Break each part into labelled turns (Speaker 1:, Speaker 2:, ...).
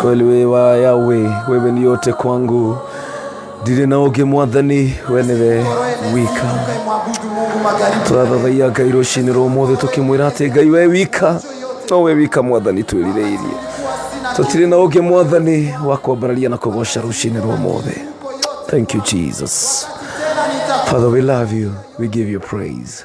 Speaker 1: kweli we wa yawe wewe ni yote kwangu ndirĩ na ũngĩ mwathani we nĩwe wika Tukaimwabudu Mungu magharibi twathathaia ngai rũcinĩ rwa ũmũthĩ tũkĩmwĩra atĩ ngai we wika no we wika mwathani twĩrirĩirie tũtirĩ na ũngĩ mwathani wa kwambararia na kũgoca rũcinĩ rwa ũmũthĩ thank you jesus father we love you we give you praise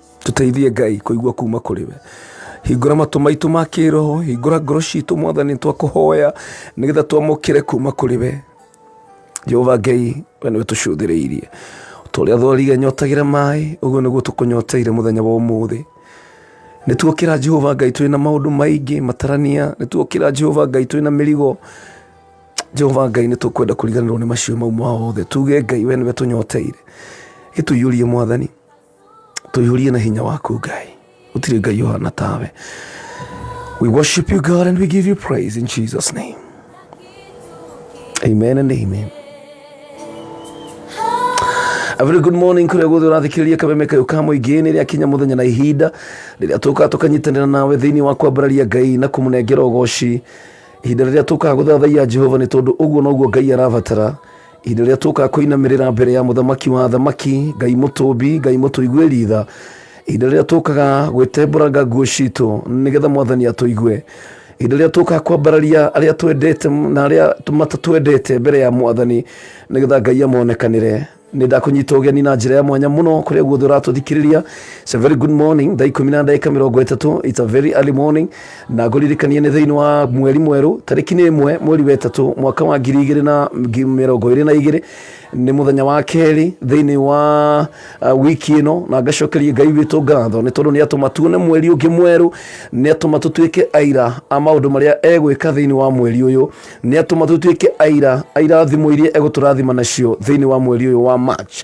Speaker 1: tũteithie ngai kũigua kuma kũrĩ we hingũra matũ maitũ ma kĩroho hingũra ngoro citũ mwathani twakũhoya nĩgetha twamũkĩre kuma kũrĩ we jehova ngai we nĩwe tũcũthĩrĩirie tũrĩa thwarire nyotagĩra maĩ ũguo nĩguo tũkũnyoteire mũthenya wa ũmũthĩ nĩ tuokĩra jehova ngai tũrĩ na maũndũ maingĩ matarania nĩ tuokĩra jehova ngai tũrĩ na mĩrigo jehova ngai nĩ tũkwenda kũriganĩrwo nĩ macio mau mothe tuge ngai we nĩwe tũnyoteire gĩtũiyũrie mwathani tũihũrie na hinya waku ngai gũtirĩ ngai ũhana tawe we worship you god and we give you praise in jesus name amen and amen A very good morning kũrĩa guothe ũrathikĩrĩria kameme kayo ka mũingĩ nĩ rĩa kinya mũthenya na ihinda rĩrĩa tũkaga tũkanyitanĩra nawe thĩinĩ wa kwambararia ngai na kũmũnengera ũgoci ihinda rĩrĩa tũkaga gũthathaiya jehova nĩ tondũ ũguo noguo ngai arabatara hĩndĩ ĩrĩa tũkaga kũinamĩrĩra mbere ya mũthamaki wa thamaki ngai mũtũmbi ngai mũtũiguĩri tha hĩndĩ ĩrĩa tũkaga gwĩtembũranga nguo citũ nĩgetha mwathani atũigue hĩndĩ ĩrĩa tũkaga kwambararia arĩa twendete na arĩa matatwendete mbere ya mwathani nĩgetha ngai amonekanĩre nä ndakånyita å geni na njä ra ya mwanya må no kå rä a guothe å ratå thikiriria very good morning thaa ikå mi na ndagä ka mä rongo ä tatå it's a very early morning na ngũririkanie nĩ thĩinĩ wa mweri mwerũ tarĩki nĩ ĩmwe mweri wa ĩtatũ mwaka wa ngiri igĩrĩ na ngi- mĩrongo ĩrĩ na igĩrĩ nĩ mũthenya wa kerĩ thĩinĩ wa uh, wiki ĩno na ngacokeria ngai witũ ngatho nĩ tondũ nĩ atũma tuone mweri ũngĩ mwerũ nĩ atũma tũtuĩke aira a maũndũ marĩa egwĩka thĩinĩ wa mweri ũyũ nĩ atũma tũtuĩke aira a irathimo iria egũtũrathima nacio thĩinĩ wa mweri ũyũ wa march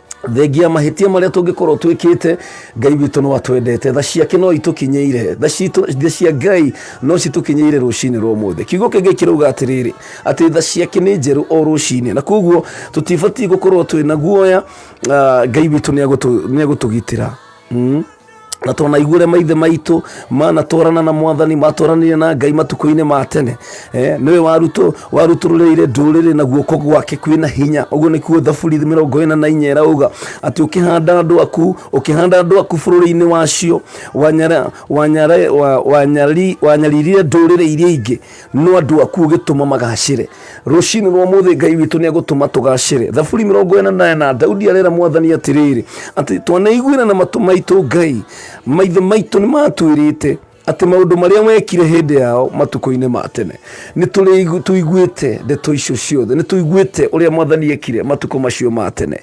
Speaker 1: thengia mahĩtia marĩa tũngĩkorwo twĩkĩte ngai witũ no atwendete tha ciake no itũkinyĩire tha citũ- tha cia ngai no citũkinyĩire rũcinĩ rwa ũmũthĩ kiugo kĩngĩ kĩrauga atĩrĩrĩ atĩ tha ciake nĩ njerũ o rũcinĩ na koguo tũtibatiĩ gũkorwo twĩ na guoya ah, ngai witũ nĩ agũtũ- nĩ agũtũgitĩra Mm. na twanaiguire maithe maitũ manatwarana na mwathani matwaranire na ngai matukũ-inĩ ma tene eh, nĩwe waruto warutũrũrĩire ndũrĩrĩ na guoko gwake kwĩna hinya ũguo nĩkuo thaburi mĩrongo ĩna na inya ĩrauga atĩ ũkĩhanda andũ aku ũkĩhanda andũ aku bũrũri-inĩ wacio wanyara- wanyara- wa- wanyari- wanyaririre ndũrĩrĩ iria ingĩ no andũ aku ũgĩtũma magacĩre rũcinĩ rwa mũthĩ ngai witũ nĩ egũtũma tũgacĩre thaburi mĩrongo ĩna na ĩna daudi arera mwathani atĩrĩrĩ atĩ twanaiguĩra na matũ maitũ ngai maithe maitũ nĩ matwĩrĩte atĩ maũndũ marĩa wekire hĩndĩ yao matukũ-inĩ ma tene nĩ tũrĩ- tũiguĩte ndeto icio ciothe nĩ tũiguĩte ũrĩa mwathani ekire matukũ macio ma tene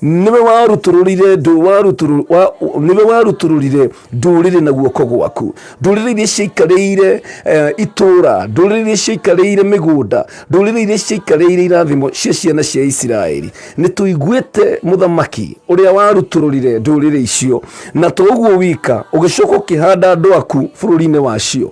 Speaker 1: nĩwe warutũrũrire ndũ warutũrũ- wa- nĩwe warutũrũrire ndũrĩrĩ na guoko gwaku ndũrĩrĩ iria ciaikarĩire eh, itũra ndũrĩrĩ iria ciaikarĩire mĩgũnda ndũrĩrĩ iria ciaikarĩire irathimo cia ciana cia isiraeli nĩ tũiguĩte mũthamaki ũrĩa warutũrũrire ndũrĩrĩ icio na to ũguo wika ũgĩcoka ũkĩhanda andũ aku bũrũri-inĩ wacio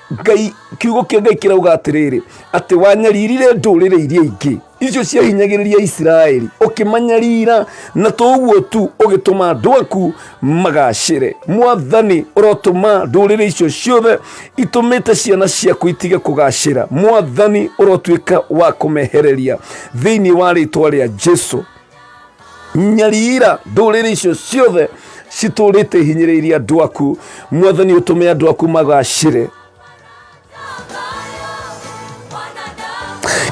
Speaker 1: ngai kiugo kĩa ngai kĩrauga atĩrĩrĩ atĩ wanyaririre ndũrĩrĩ iria ingĩ icio ciahinyagĩrĩria isiraeli ũkĩmanyarira na to ũguo tu ũgĩtũma andũ aku magacĩre mwathani ũrotũma ndũrĩrĩ icio ciothe itũmĩte ciana ciaku itige kũgacĩra mwathani ũrotuĩka wa kũmehereria thĩinĩ wa rĩtwa rĩa jesu nyariira ndũrĩrĩ icio ciothe citũrĩte ihinyĩrĩirie andũ aku mwathani ũtũme andũ aku magacĩre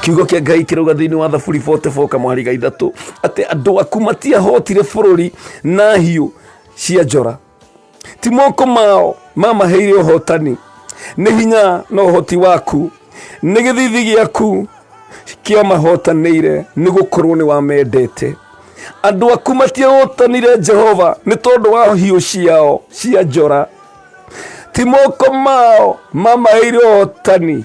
Speaker 1: kiugo kĩa ngai kĩrauga thĩinĩ wa thaburi 44 kamwari ga ithatũ atĩ andũ aku matiahotire bũrũri na hiũ cia njora ti moko mao mamaheire ũhotani nĩ hinya na ũhoti waku nĩ gĩthithi gĩaku kĩa mahotanĩire nĩ gũkorwo nĩ wamendete andũ aku matiahotanire jehova nĩ tondũ wa hiũ ciao cia njora ti moko mao mamaheire ũhotani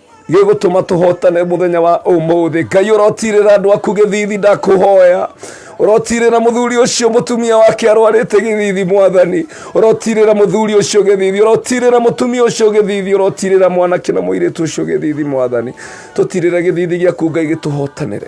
Speaker 1: gĩgũtũma tũhotane mũthenya wa ũmũthĩ ngai ũrotirĩra andũ aku gĩthithi ndakũhoya ũrotirĩra mũthuri ũcio mũtumia wake arwarĩte gĩthithi mwathani ũrotirĩra mũthuri ũcio gĩthithi ũrotirĩra mũtumia ũcio gĩthithi ũrotirĩra mwanake na mũirĩtu ũcio gĩthithi mwathani tũtirĩra gĩthithi gĩaku ngai gĩtũhotanĩre